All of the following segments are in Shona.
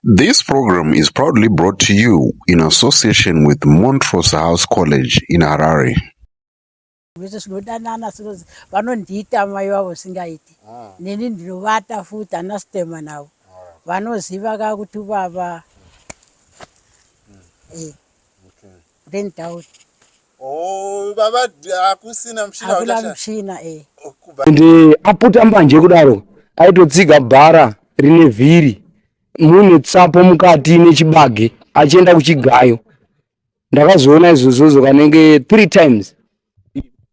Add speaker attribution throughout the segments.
Speaker 1: This program is proudly brought to you in association with Montrose House College in Harare.
Speaker 2: Vese zvinodanana sinozi vanondiita mai vavo singaiti ah. neni ndinovata futi ana sitema navo vanoziva ka kuti vava hmm. eh. then doubt Oh,
Speaker 3: baba hakusina mushina hakuna mushina
Speaker 2: eh. Ndi
Speaker 4: aputa mbanje kudaro aitotsiga bhara rine vhiri mune tsapo mukati nechibage achienda kuchigayo ndakazoona izvozvozvo kanenge three times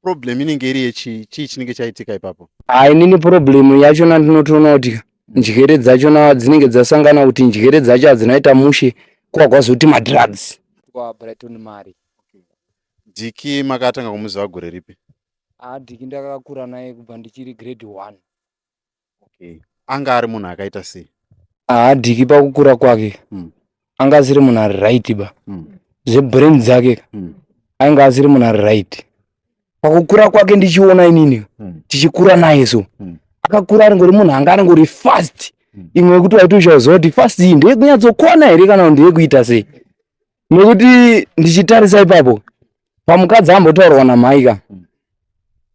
Speaker 4: problem
Speaker 3: inenge iri yechi chii chinenge chaitika ipapo hayi nini problem
Speaker 4: yachona ndinotoona kuti njere dzachona dzinenge dzasangana kuti njere dzacho hadzinaita mushe kwagwazoti madrugs kwabrighton mari Diki
Speaker 3: makatanga kumuziva gore ripi? Ah, Diki
Speaker 4: ndakakura naye kubva ndichiri grade 1.
Speaker 3: Okay. Anga ari munhu akaita sei? Ah, Diki
Speaker 4: pakukura kwake mm. anga asiri munhu ari right ba. Mm. Zvebrain dzake mm. ainga asiri munhu ari right. Pakukura kwake ndichiona inini mm. tichikura naye so. Mm. Akakura ari ngori munhu anga ari ngori fast. Mm. Imwe yekuti waiti uchazowa kuti fast iyi ndeyekunyatso kwana here kana kuti ndeyekuita sei? Nekuti ndichitarisa ipapo pamukadzi ambotaurwa namhai ka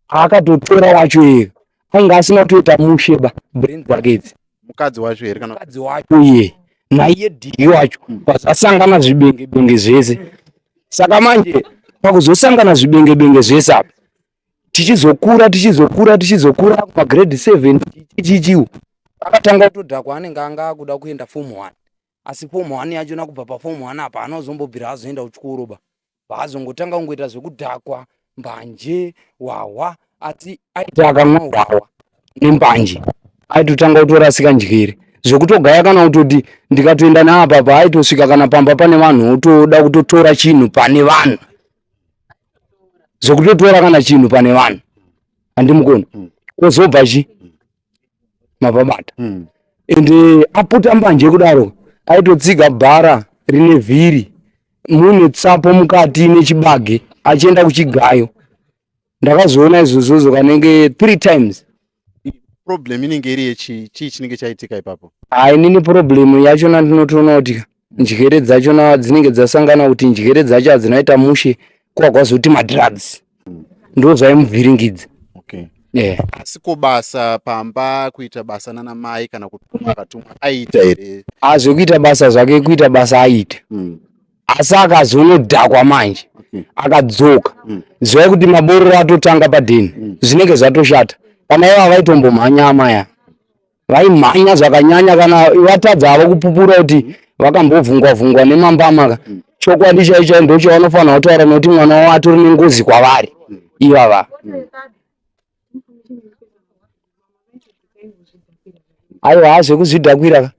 Speaker 4: akatotora wacho iye ainge asina kutoita mushe ba brain dzake idzi mukadzi wacho here kana
Speaker 3: mukadzi wacho iye
Speaker 4: naiye dhiri wacho pazasangana zvibenge benge zvese saka manje pakuzosangana zvibenge benge zvese apa tichizokura tichizokura tichizokura pagrade seven chichichiwo akatanga kutodhakwa anenge anga akuda kuenda form one asi form one yacho nakubva paform one apa haana kuzombobvira azoenda kuchikoro ba vaazongotanga kungoita zvekudhakwa mbanje hwahwa asi aiti akamwa hwahwa nembanje aitotanga kutorasika njere zvekutogaya kana kutoti ndikatoenda naapa pa aitosvika kana pamba pane vanhu otoda kutotora chinhu pane vanhu zvekutotora kana chinhu pane vanhu handimukoni kozobva chi mavabata mm. and uh, eh, aputa mbanje kudaro aitotsiga bhara rine vhiri mune tsapo mukati nechibage achienda kuchigayo ndakazoona izvozvozvo kanenge three times problem
Speaker 3: inenge iri yechi chii chinenge chaitika ipapo hainini problem
Speaker 4: yacho nandinotoona kuti njere dzacho na dzinenge dzasangana kuti njere dzacho adzinaita mushe kwagwazoti ma drugs mm. ndo zvaimuvhiringidza okay.
Speaker 3: yeah. asi ko basa pamba kuita basa nana mai kana kutumwa akatumwa aita here azvekuita basa
Speaker 4: zvake kuita basa aita mm. asi akazonodhakwa manje mm. akadzoka mm. zivai kuti mabororo atotanga padheni mm. zvinenge zvatoshata kana ivo avaitombo mhanya amaya vaimhanya zvakanyanya kana vatadza havo kupupura kuti vakambovhungwa vhungwa nemambama ka chokwadi chaicho ndocho vanofanira kutaura nokuti mwana wavo atori nengozi kwavari ivava aiwa haa zvekuzvidhakwira ka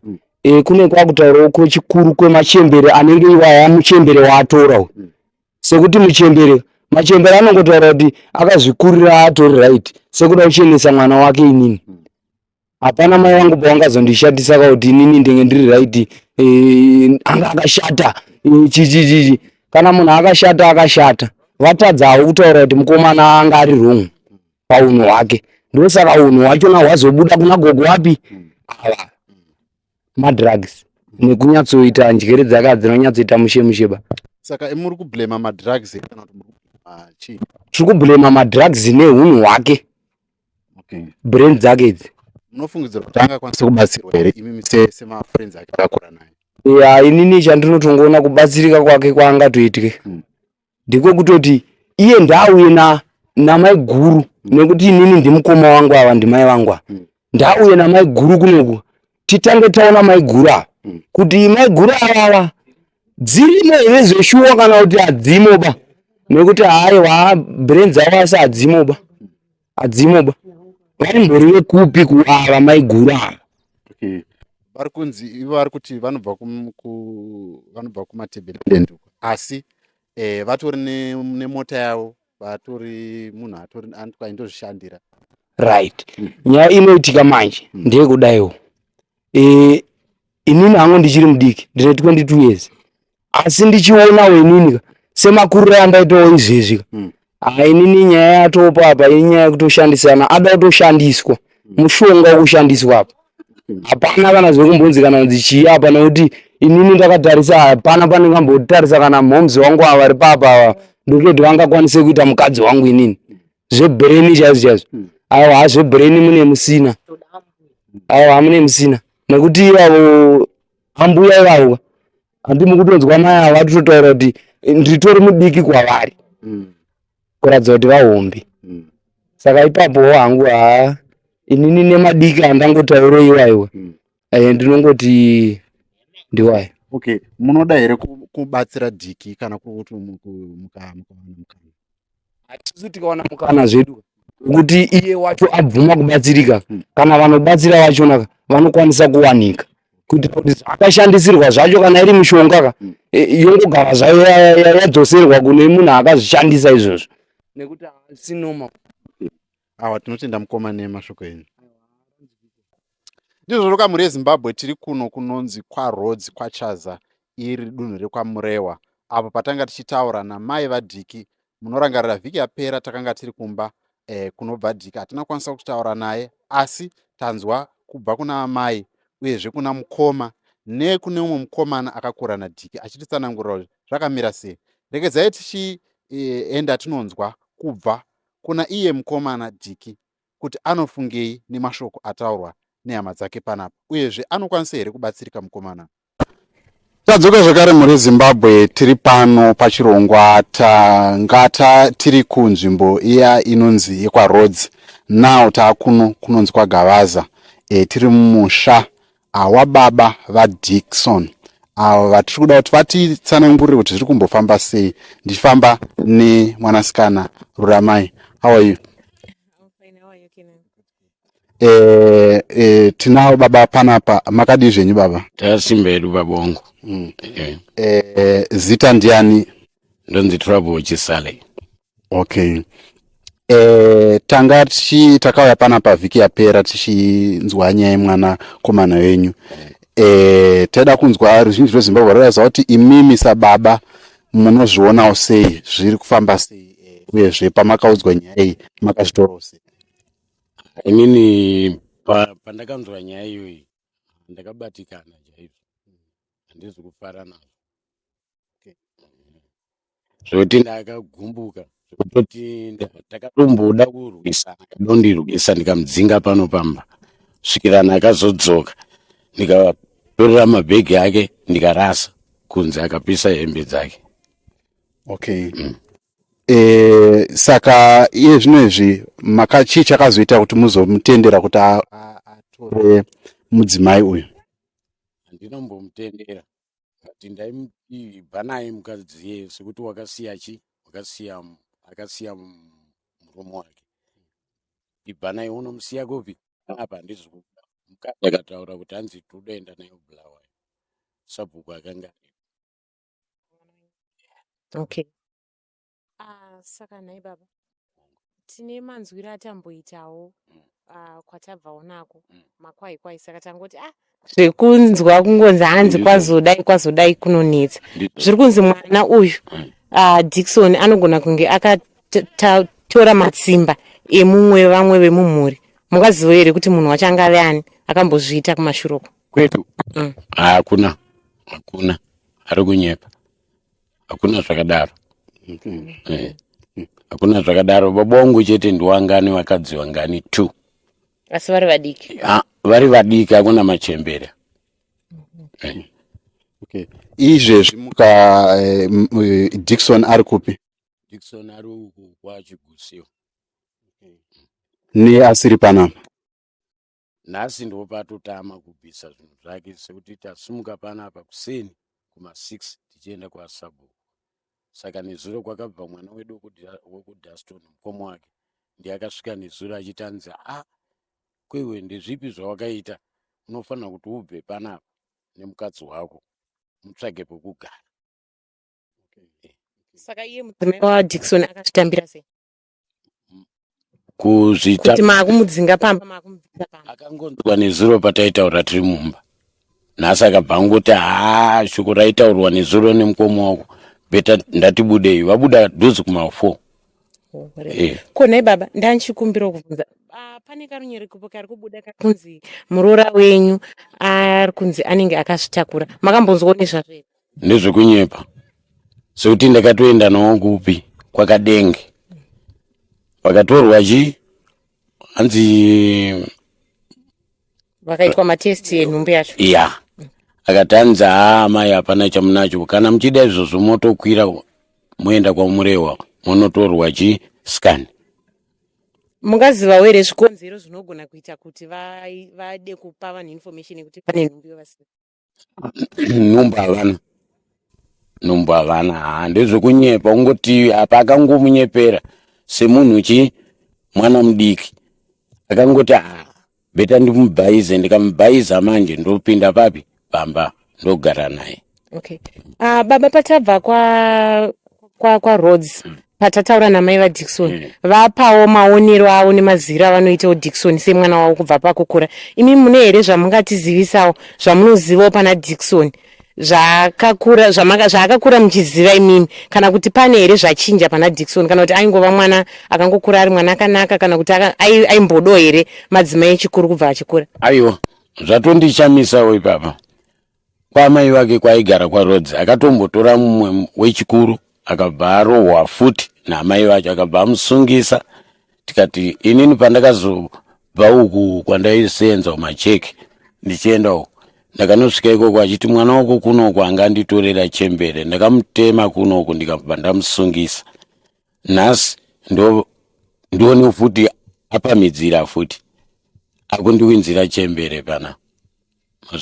Speaker 4: e, kune kwakutaurawo kwechikuru kwemachembere anenge iwaya muchembere waatora uyu sekuti muchembere machembere anongotaura kuti akazvikurira atori right sekuda kuchenesa mwana wake inini hapana mai vangu pavangazondishatisa kuti inini ndenge ndiri right eh, anga akashata eh, chichichichi kana munhu akashata akashata vatadzawo kutaura kuti mukomana anga ari wrong paunhu hwake ndosaka unhu hwachona hwazobuda kuna gogo wapi ava madrugs nekunyatsoita njere dzaka dzinonyatsoita mushemusheba saka imuri kublema
Speaker 3: madrugs kana kuti muri kublema chii tiri kublema
Speaker 4: madrugs neunhu hwake okay.
Speaker 3: brain dzake
Speaker 4: idzi munofungidzira kuti
Speaker 3: angakwanisa kubatsirwa here imimi semafriends ake akakura naye ya inini chandinotongoona
Speaker 4: kubatsirika kwake kwaangatoitwe hmm. ndiko kutoti iye ndaauye na namai guru hmm. nekuti inini ndimukoma wangu ava ndimai vangu ava hmm. ndaauye namai guru kunoku titange taona maiguru ava mm. kuti maiguru avava dzirimo here zveshuwa kana kuti hadzimo ba nekuti haiwa brain dzavo asi hadzimo ba hadzimo ba vaimbori vekupi kuava maiguru ava okay
Speaker 3: vari kunzi ivo vari kuti vanobva vanobva kumatebelend asi eh, vatori nemota yavo vatori munhu atori aindozvishandira right
Speaker 4: mm. nyaya inoitika manje mm. ndeyekudaiwo e, inini hangu ndichiri mudiki ndine 22 years asi ndichionawo inini semakuriro andaitawo izvezvi ka mm. hainini nyaya yatopa apa inyaya yekutoshandisana ada kutoshandiswa mushonga wokushandiswa apa hapana kana zvekumbonzi kana kunzi chii hapana kuti inini ndakatarisa hapana pandingambotarisa kana momzi wangu ava vari papa ava ndokutoti vangakwanise kuita mukadzi wangu inini zvebreni chaizvo chaizvo hmm. avo ha zvebreni mune musina avo hamune musina nekuti ivavo ambuya ivavo handi mukutonzwa mai ava vatototaura kuti nditori mudiki kwavari mm. kuratidza kuti vahombe mm. saka ipapowo hangu haa inini nemadiki andangotaura iwaiwa mm. eh, ndinongoti ndiwayo okay
Speaker 3: munoda here kubatsira diki kana kuti mukawana mukana
Speaker 4: atisu tikawana mukana zvedu kuti iye wacho abvuma kubatsirika kana vanobatsira vachona vanokwanisa kuwanika kuitira kuti zvakashandisirwa zvacho kana iri mishonga ka e, yongogara zvayo ya- ya- ya- yadzoserwa kune munhu akazvishandisa izvozvo nekuti haasi normal
Speaker 3: awa tinotenda mukoma nemashoko enyu ndizvo zvoka mhuri yezimbabwe tiri kuno kunonzi kwarodzi kwachaza iri dunhu rekwamurewa apo patanga tichitaura namai vadhiki munorangarira vhiki yapera takanga tiri kumba eh, kunobva dhiki hatina kukwanisa kutaura naye asi tanzwa kubva kuna amai uyezve kuna mukoma nekune umwe mukomana akakura nadhiki achititsanangurira kuti zvakamira sei regedzai tichienda e, tinonzwa kubva kuna iye mukomana Diki kuti anofungei nemashoko ataurwa nehama dzake panapa uyezve anokwanisa here kubatsirika mukomana tadzoka zvakare mhuri zimbabwe tiri pano pachirongwa tangata tiri kunzvimbo iya inonzi yekwaroads now taakuno kunonzi kwagavaza e, tiri mumusha Awa baba vaDickson avo vatiri kuda kuti vatitsanangurire kuti zviri kumbofamba sei ndichifamba nemwanasikana Ruramai. How are you? Eh, eh, tinawo baba panapa makadii zvenyu baba tasimba yedu babongo
Speaker 5: mm. eh. eh,
Speaker 3: zita ndiani ndonzi
Speaker 5: trouble chisale okay
Speaker 3: Eh, tanga tichi takauya pana pavhiki yapera tichinzwa nyaya yemwana komana wenyu eh, taida kunzwa ruzhinji rwezimbabwe rwaiza kuti imimi sababa munozvionawo sei zviri kufamba sei eh, uyezve pamakaudzwa nyaya iyi makazvitorawo sei inini
Speaker 5: pa- pandakanzwa nyaya iyoyi ndakabatikana chaizvo handizi kufara nazvo zvekuti ndakagumbuka zvekutoti ndakatomboda kurwisana kadondirwisa ndikamudzinga pano pamba svikirana akazodzoka ndikatorera mabhegi ake ndikarasa kunze akapisa hembe dzake okay
Speaker 3: mm. e, saka iye zvino izvi makachii chakazoita kuti muzomutendera kuti atore mudzimai uyu handinombomutendera
Speaker 5: but ndaimuti ibva naye mukadzi iye sekuti wakasiya chi wakasiya mu- akasiya mu- murume wake ibva naye unomusiya kupi apa handisi kuda mukadzi akataura kuti hanzi todoenda naye kubulawayo sabhuku akanga aripo
Speaker 6: okay Ah, saka nhai baba tine manzwiro atamboitawo Mm. ah, kwatabvawo nako Mm. makwai kwai saka tangoti ah zvekunzwa kungonzi hanzi Ndizvo. kwazodai kwazodai kunonetsa Ndizvo. zviri kunzi mwana uyu Mm. ah, dikson anogona kunge akatora matsimba emumwe vamwe vemumhuri mukazivo here kuti munhu wacho anga ave ani akambozviita kumashuroko kwedu Mm.
Speaker 5: hakuna hakuna ari kunyepa hakuna zvakadaro mm. eh. hakuna zvakadaro baba wangu chete ndiwangani vakadzi vangani two asi vari
Speaker 6: vadiki ha, vari vadiki
Speaker 5: hakuna machembere mm -hmm. eh.
Speaker 3: okay. izvezvi muka eh, eh, dikson ari kupi dikson ari
Speaker 5: uku kwachigusio okay.
Speaker 3: neasiri panapa
Speaker 5: nhasi ndipo patotama kubvisa zvinhu zvake sekuti tasimuka panapa kuseni kuma6 tichienda kwasabhuku saka nezuro kwakabva mwana wedu wokudaston mukoma wake ndiye akasvika nezuro achitanzi a ah, kwewe ndezvipi zvawakaita unofanira kuti ubve panapa nemukadzi wako mutsvage pekugara
Speaker 6: saka iye mudzimai wadikson akazvitambira sei
Speaker 5: kuzvita kuti makumudzinga
Speaker 6: pamba makumudzinga pamba akangonzwa nezuro
Speaker 5: pataitaura tiri mumba nhasi akabva angoti haa shoko raitaurwa nezuro nemukoma wako beta ndatibudei vabuda dhuzi
Speaker 6: kumafour eh.
Speaker 5: ko
Speaker 6: nhai baba
Speaker 5: ndanchikumbira
Speaker 6: kuvhunza ah, pane karunyere kupo kari kubuda kari kunzi muroora wenyu ari kunzi anenge akazvitakura makambonzwa nezvazvo here ndezvekunyepa
Speaker 5: sekuti ndakatoenda nawo kupi kwakadenge vakatorwa chi hanzi
Speaker 6: vakaitwa matesti enhumbu yacho ya yeah.
Speaker 5: akati hanzi haa amai hapana chamunacho kana muchida izvozvo motokwira moenda kwamurehwa monotorwa chi scan
Speaker 6: mungazivawo here zvikonzero zvinogona kuita kuti vade kupa vanhu information yekuti pane nhumbu yovasina nhumbu havana
Speaker 5: nhumbu havana haa ndezvekunyepa ungoti apa akangomunyepera semunhu chii mwana mudiki akangoti haa beta ndimubhaize ndikamubhaiza manje ndopinda papi pamba ndogara naye okay
Speaker 6: uh, baba patava kwa kwa, kwa roads mm. patataura namai vadickson mm. vapawo maonero avo nemaziviro avanoitawo dickson semwana wavo kubva pakukura imi mune here zvamungatizivisawo zvamunozivawo pana dickson zvakakura zvaakakura muchiziva imimi kana kuti pane here zvachinja pana dickson kana kuti aingova mwana akangokura ari mwana akanaka kana kuti aimbodo here madzimai echikuru kubva achikura aiwa
Speaker 5: zvatondishamisawo ipapa Kwaamai vake kwaigara kwaRhodes akatombotora mumwe wechikuru akabva arohwa futi naamai vacho akabva amusungisa tikati inini pandakazobva uku kwandaiseenza kumacheki ndichienda uku ndakanosvika ikoko achiti mwana wako kunoku anga anditorera chembere ndakamutema kunoku ndikabva ndamusungisa nhasi ndo ndione futi apamidzira futi akundiwinzira chembere pana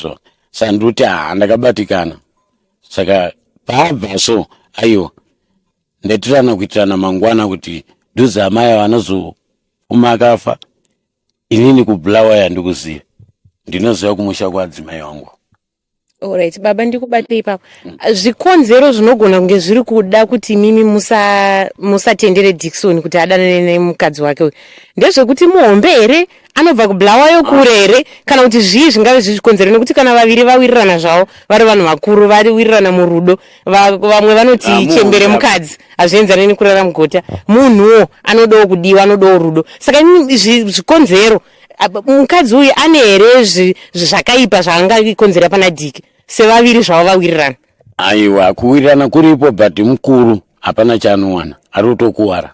Speaker 5: so saka ndiri kuti haa ndakabatikana saka paabva so aiwa ndaitirana kuitirana mangwana kuti dhuze amai ava anozofuma akafa inini kubulawa yandikuziva ndinoziva kumusha kwaadzimai wangu Alright,
Speaker 6: baba ndikubate ipapo. Zvikonzero zvinogona kunge zviri kuda kuti mimi musa musatendere Dickson kuti adanane nemukadzi wake uyu. Ndezvekuti muhombe here anobva kubulawayo kure here kana kuti zvii zvingave zviri chikonzero nekuti kana vaviri vawirirana zvavo vari vanhu vakuru vawirirana murudo vamwe vanoti ah, chembere mukadzi hazvienzane nekurara mugota munhuwo anodawo kudiwa anodawo rudo saka zvikonzero mukadzi uyu ane here zvakaipa zvaangakonzera pana diki sevaviri zvavo vawirirana aiwa
Speaker 5: kuwirirana kuripo but mukuru hapana chaanowana ari kutokuwara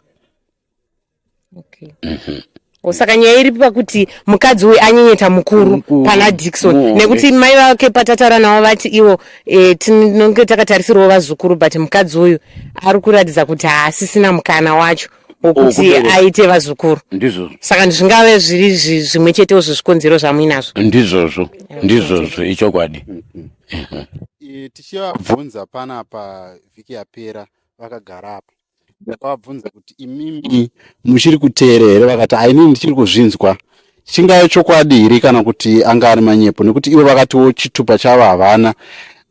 Speaker 6: okay. Mhm. Oh, saka nyaya iri pakuti mukadzi uyu anyenyeta mukuru pana dikson nekuti mai vake patataura navo vati ivo e, tinonge takatarisirwawo vazukuru but mukadzi uyu ari kuratidza kuti haasisina mukana wacho wokuti aite vazukuru ndizvozvo saka zvingave zviri zvimwe chetewo zvezvikonzero zvamuinazvo ndizvozvo ndizvozvo ichokwadi mhm.
Speaker 3: tichivabvunza panapa vhiki yapera vakagara apa ndakavabvunza kuti imimi muchiri kuteera here vakati haini ndichiri kuzvinzwa chingave chokwadi here kana kuti anga ari manyepo nekuti ivo vakatiwo chitupa chavo havana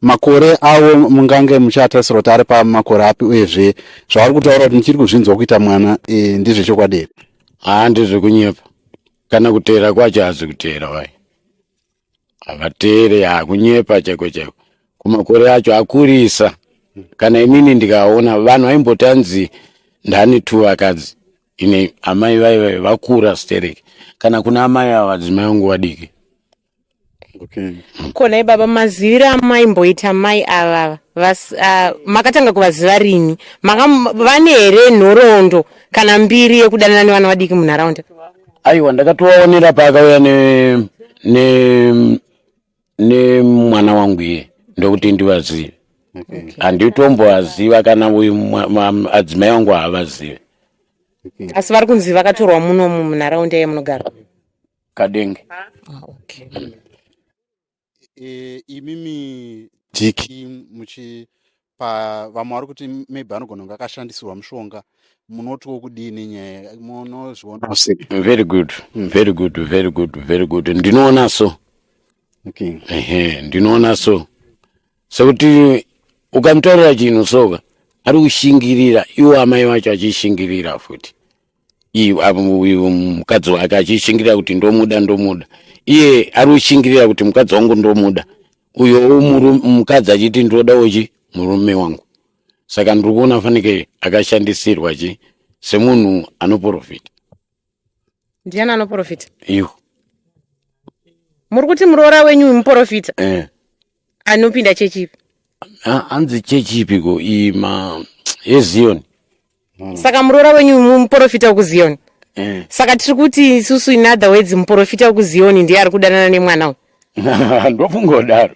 Speaker 3: makore avo mungange muchatarisira kuti ari pamakore api uyezve zvavari kutaura kuti ndichiri kuzvinzwa kuita mwana e, ndezvechokwadi here haa ndezvekunyepa
Speaker 5: kana kuteera kwacho hazi kuteera wai havateere yaa kunyepa chaiko chaiko kumakore acho akurisa kana inini ndikaona vanhu vaimboti anzi ndani two vakadzi ine amai vaive vakura sterek kana kuna amai ava vadzimai vangu vadiki okay
Speaker 3: ko nhai
Speaker 6: baba maziviro amaimboita mai ava vas- ah, makatanga kuvaziva rini Makam- vane here nhoroondo kana mbiri yekudanana nevana vadiki munharaunda Aiwa
Speaker 5: ndakatovaonera paakauya ne ne nemwana wangu iye ndokuti ndivazive Okay. handitombovaziva kana uyu mwa- mwa- adzimai wangu haavazive Okay.
Speaker 6: asi vari kunzi vakatorwa munomu munharaunda yamunogara kadenge
Speaker 5: Ah,
Speaker 6: okay. e,
Speaker 3: imimi diki muchi pa vamwe vari kuti maybe anogona kunge akashandisirwa mushonga munotiwo kudii nenyaya munozviona very good
Speaker 5: hmm. very good very good very good ndinoona so okay.
Speaker 3: ehe ndinoona
Speaker 5: so sekuti ukamutaurira chinhu soka ari kushingirira iwo amai vacho achishingirira futi uyu mukadzi wake achishingirira kuti ndomuda ndomuda iye ari kushingirira kuti mukadzi wangu ndomuda uyo mukadzi achiti ndoda uchi murume wangu saka ndiri kuona fanike akashandisirwa chi semunhu anoprofita
Speaker 6: ndiani anoprofita iyo muri kuti muroora wenyu muprofita eh. anopinda chechi ipi Ha- hanzi
Speaker 5: chechi ipi ko iyi ma yezion
Speaker 6: saka muroora wenyu mu- muporofita wekuziyoni Eh. saka tiri kuti isusu in other words muporofita wekuziyoni ndiye ari kudanana nemwana uyu ndokungodaro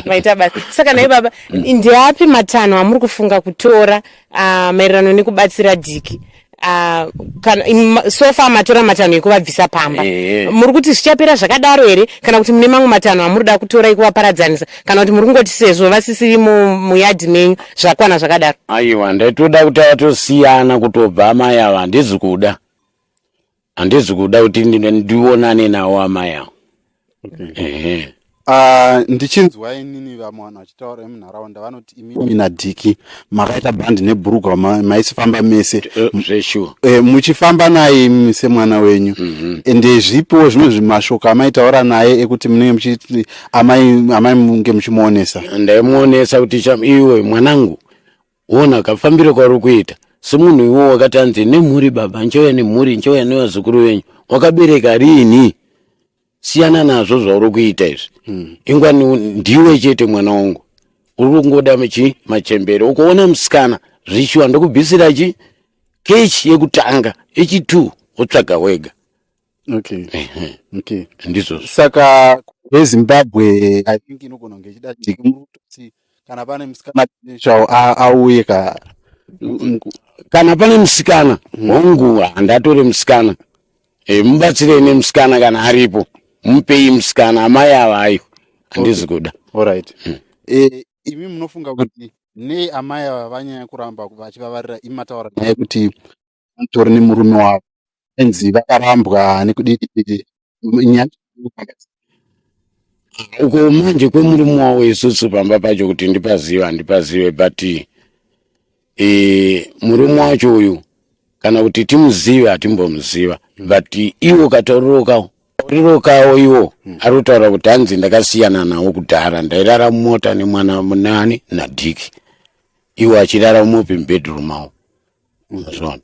Speaker 6: maita basa saka naye baba ndeapi matanho amuri kufunga kutora uh, maererano nekubatsira diki Ah, kana sofa matora matanho ekuvabvisa pamba eh. muri kuti zvichapera zvakadaro here kana kuti mune mamwe matanho amuri da kutora ekuvaparadzanisa kana kuti muri kungoti sezvo vasisiri muyadhi menyu zvakwana zvakadaro aiwa ndaitoda
Speaker 5: kuti vatosiyana kutobva amai ava handizi kuda handizi kuda kuti ndionane nawo amai awo ehe Ah,
Speaker 3: ndichinzwa inini vamwe vanhu vachitaura vemunharaunda vanoti imimi nadhiki makaita bhandi nebhurugwa ma- maisifamba mese Eh, zveshuwa Eh, muchifamba naye imimi semwana wenyu ende zvipowo zvimwe zvimashoko amaitaura naye ekuti munenge muchiti amai amai munge muchimuonesa ndaimuonesa kuti
Speaker 5: cham iwe mwanangu Wona kafambiro kwauri kuita semunhu iwo wakati anzi nemhuri baba nchouya nemhuri nchouya nevazukuru venyu wakabereka riini siyana nazvo zvauri kuita izvi mm. ingwa ndiwe chete mwana wangu uri kungoda machi machembere ukoona musikana zvishuwa ndokubvisira chi kechi yekutanga echi two wotsvaga wega okay
Speaker 3: Ehe, okay ndizvozvo saka vezimbabwe i think inogona kunge ichida jeki muruto kuti kana pane musikana potential a- auye ka Mm,
Speaker 5: kana pane musikana mm, hongu handatore musikana e, mubatsirei nemusikana kana aripo mupei musikana amai ava ayo okay handisi kuda all right Mm.
Speaker 3: e, imi munofunga kuti nei amai ava vanyanya kuramba vachivavarira imi mataura nyaya yekuti vatori nemurume wavo anzi vakarambwa nekudii
Speaker 5: uko manje kwemurume wavo isusu pamba pacho kuti ndipazive handipazive but e, murume wacho uyu kana kuti timuzive hatimbomuziva but iwo katauriro kawo tauriro kawo iwo hmm. ari kutaura kuti hanzi ndakasiyana nawo kudhara ndairara mumota nemwana munani nadhiki iwo achirara mumopi mubedroom awo Mazvona.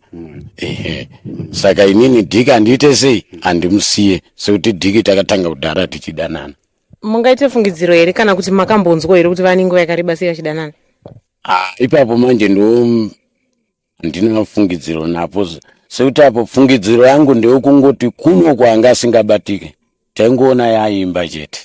Speaker 5: Ehe. Saka inini Diki andiite sei? Andimusiye sekuti Diki takatanga kudhara tichidanana. mungaite
Speaker 6: fungidziro here kana kuti makambonzwa here kuti vane nguva yakareba sei vachidanana Ah, ipapo
Speaker 5: manje ndo handina fungidziro napo z- sekuti apo fungidziro yangu ndeyokungoti kuno kwanga asingabatike taingoona yaimba chete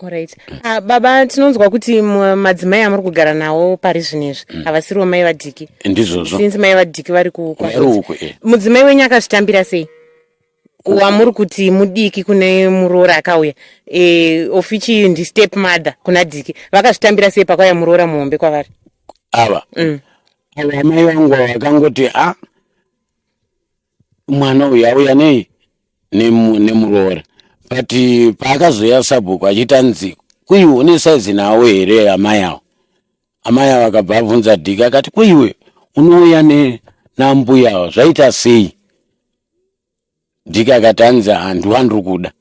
Speaker 5: Alright.
Speaker 6: Ah, baba tinonzwa kuti mu- madzimai amuri kugara nawo pari zvinezvi havasiriwo mai vadiki ndizvozvo since mai
Speaker 5: vadiki vari
Speaker 6: ku- Vari kwaRhodes. uku, eh. mudzimai wenyu akazvitambira sei wamuri kuti mudiki kune muroora akauya e, of which iyi ndi step mother kuna diki vakazvitambira sei pakauya muroora muhombe kwavari ava
Speaker 5: Mm. ava amai vangu ava vakangoti a mwana uyu auya nei nemu- nemuroora but eh, paakazoya sabhuku achiti anzi kuiwe une saizi nawo here amai awo amai awo akabva abvunza dhiki akati kuiwe unouya ne- nambuya awo zvaita sei dhiki akati anzi handiwa ndiri kuda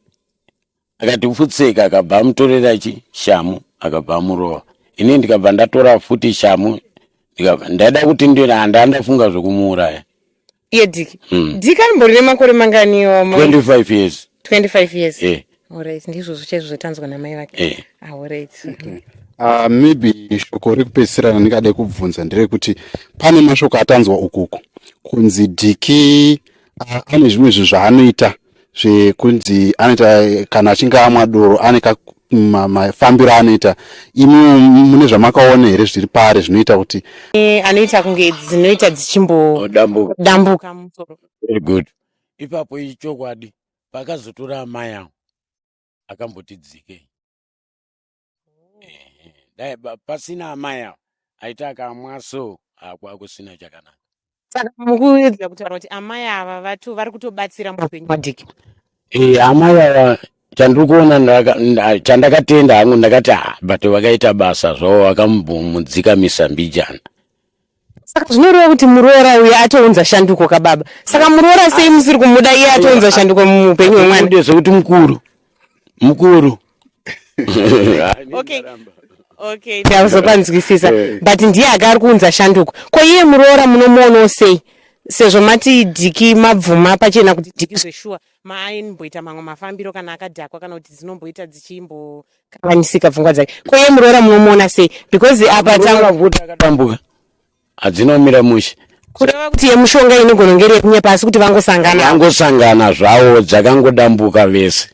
Speaker 5: akati pfutseka akabva amutorera chi shamu akabva amurova ini ndikabva ndatora futi shamu ndikabva ndaida kuti ndina handaa ndafunga zvekumuuraya iye diki
Speaker 6: Mm. diki arimbori nemakore mangani iwo amai? 25 years
Speaker 5: 25 years
Speaker 6: eh Alright, ndizvozvo chaizvo zvatanzwa namai vake eh Alright. Uh,
Speaker 3: maybe shoko rekupedzisira randingade kubvunza nderekuti pane mashoko atanzwa ukuku kunzi diki ane zvimwe zvinhu zvaanoita zvekunzi anoita kana achinge amwa doro ane mafambiro anoita imi mune zvamakaona here zviri pari zvinoita kuti e, anoita kunge
Speaker 6: dzinoita dzichimbodambuka musoro good
Speaker 5: ipapo ichokwadi pakazotora amai awo akamboti dzikei dai pasina amai ava aita akamwa so akwakusina chakanaka saka
Speaker 6: mukuedza kutaura kuti amai ava vatu vari kutobatsira muupenyu hwadiki e, amai
Speaker 5: ava chandiri kuona chandakatenda hangu ndakati ha ah, but vakaita basa zvavo vakambomudzika misambijana
Speaker 6: Saka zvinoreva kuti muroora uye atounza shanduko kababa. Saka muroora sei musiri kumuda iye atounza shanduko muupenyu hwemwana? Ndizvo zvekuti mukuru.
Speaker 5: Mukuru.
Speaker 6: okay. Okay, ndauzopanzwisisa eh. but ndiye aka ari kuunza shanduko. Ko iye muroora munomuonawo sei? Sezvo mati diki mabvuma pachena kuti diki zveshuwa maaimboita mamwe mafambiro kana akadhakwa kana kuti dzinomboita dzichimbo kanganyisika pfungwa dzake ko iye muroora munomuona sei because apa tsanguakadambuka
Speaker 5: hadzina kumira mushe kureva kuti
Speaker 6: yemushonga inogona ngeri yekunyepa asi kuti vangosangana vangosangana zvawo
Speaker 5: dzakangodambuka vese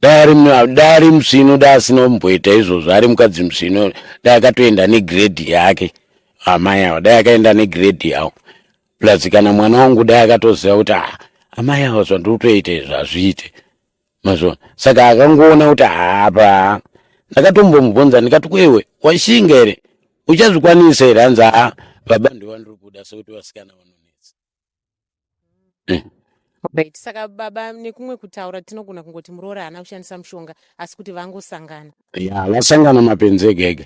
Speaker 5: daari musvino da asina kumboita izvozvo ari mukadzi musvino da akatoenda negredhi yake amai avo dai akaenda negredhi yavo plus kana mwana wangu dai akatoziva kuti ah, amai avo zvandiri kutoita izvi hazviite mazviona saka akangoona kuti hapa ndakatombomubvunza ndikati kwewe washinga here uchazvikwanisa here hanzi haa baba ndovandiri kuda sokuti vasikana vanonetsa eh.
Speaker 6: right saka baba nekumwe kutaura tinogona kungoti muroora haana kushandisa mushonga asi kuti vangosangana ya vasangana
Speaker 5: mapenzi ega ega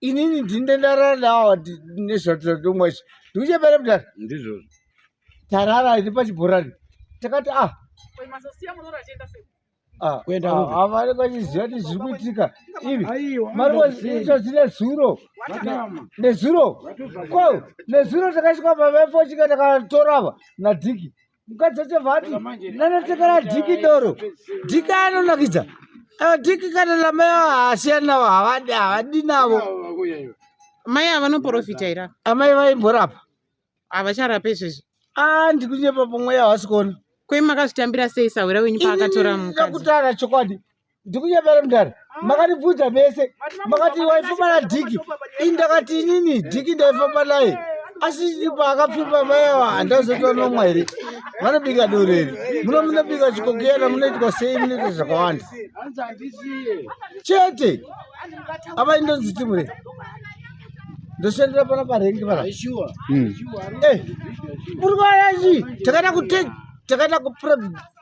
Speaker 7: inini ndinde ndarara nawo nezvatotomwa izvi ndikuchembera mudhara ndizvozvo
Speaker 5: tarara
Speaker 7: iri pachibhorani takati
Speaker 5: ah havane vachiziva
Speaker 7: kuti zviri kuitika ivi mari vaitodzine zuro nezuro ko nezuro takasvika pavafochika takatorava nadhiki mukadzi wacho vati nanotekera dhiki doro dhiki anonakidza dhiki kana namai avo haasiyani navo havadi havadi navo
Speaker 6: mai ava vanoprofita ira amai vaimborapa
Speaker 7: havacharape
Speaker 6: izvezvi a ah, ndikunyepa
Speaker 7: pomweya havasi kuona kwai makazvitambira
Speaker 6: sei sahwira wenyu paakatora mukadzi ndakutaura chokwadi
Speaker 7: ndikunyepera mudhara ah. makandibvunza mese makati waifamba nadhiki ini ndakati inini dhiki ndaifamba naye asi paakapfimba mai ava handazoitwa nomwa here vanobika doreri muno munobika chikokiyana munoitwa sei munoita zvakawanda chete apa indonzi timure ndoshandira pana parengi pana hmm. eh, muri kwarachi takaita kutei takaita kupr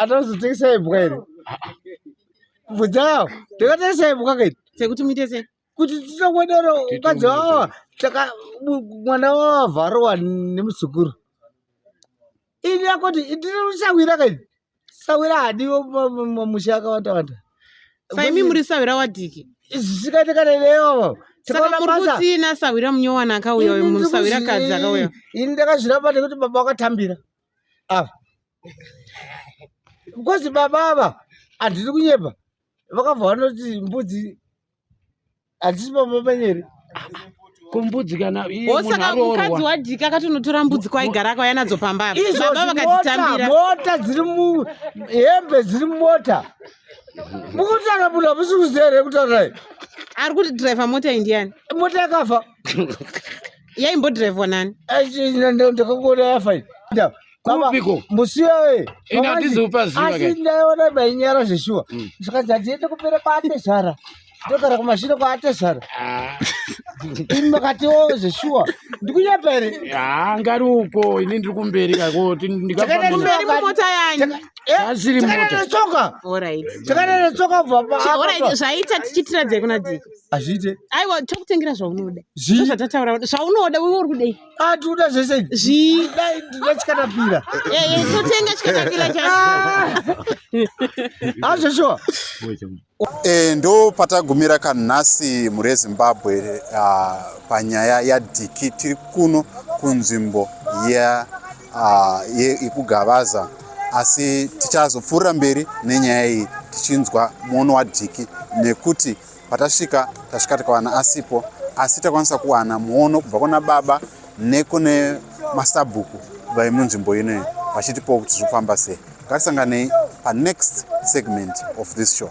Speaker 7: atozotengesa imbwa iri bvunzawo takatengesa imbwa kaiti sekuti muite sei
Speaker 6: kuti tichakwadaro
Speaker 7: ukadzi wawa saka mwana wawa vharowa nemuzukuru ini yakoti ndiri sawira kai sawira hadiwo mamusha akawanda wanda saimi muri
Speaker 6: sawira wadiki zvisikati kana
Speaker 7: neyovo sakakurikutsina
Speaker 6: sawira munyowana akauya uyo musawira kadzi akauya ini ndakazvirapa
Speaker 7: nekuti baba wakatambira ava because baba ava handisi kunyepa vakabva vanoti mbudzi hatisi baba panyeri
Speaker 5: kombudzi kana osaka mukadzi
Speaker 6: wadika akatonotora mbudzi kwaigara akauya nadzo pamba baba vakatitambira mota dziri
Speaker 7: muhembe dziri mumota mukutaura munhu hamusi kuzere kutaura ari kuti
Speaker 6: driver mota indiani mota yakafa yaimbodhiraivhwa nani ndakangona
Speaker 7: yafa kupiko
Speaker 5: musiwe
Speaker 7: asi
Speaker 5: ndaiona
Speaker 7: bainyara zveshuwa mm. zvikanzi handiende kupere kwaatezvara ndogara kumashure kwaatezvara ah. ini makatiwo zveshuwa ndikunyapa here ngari uko
Speaker 5: ini ndiri kumberi kakotikaerimota
Speaker 6: yanyu takaenda
Speaker 5: netsoka
Speaker 7: takaenda netsoka bva zvaita tichitiradzei
Speaker 6: kuna dziko hazviite aiwa
Speaker 7: tokutengera
Speaker 6: zvaunoda zvii zvatataura zvaunoda wewe uri kudei ah tinoda zvese
Speaker 7: zvii dai ndina chikatapira eh eh totenga
Speaker 6: chikatapira cha
Speaker 7: ah
Speaker 6: zveshuwa
Speaker 3: eh ndo patagumira kanhasi mure Zimbabwe uh, panyaya ya diki tiri kuno kunzvimbo ya uh, ye ikugavaza asi tichazopfuurira mberi nenyaya iyi tichinzwa muono wadiki nekuti Patasvika tasvika tikawana asipo asi takwanisa kuwana muono kubva kuna baba nekune masabhuku vaimunzvimbo inoyi vachitipawo kuti zviri kufamba sei ngatisanganei panext segment of this show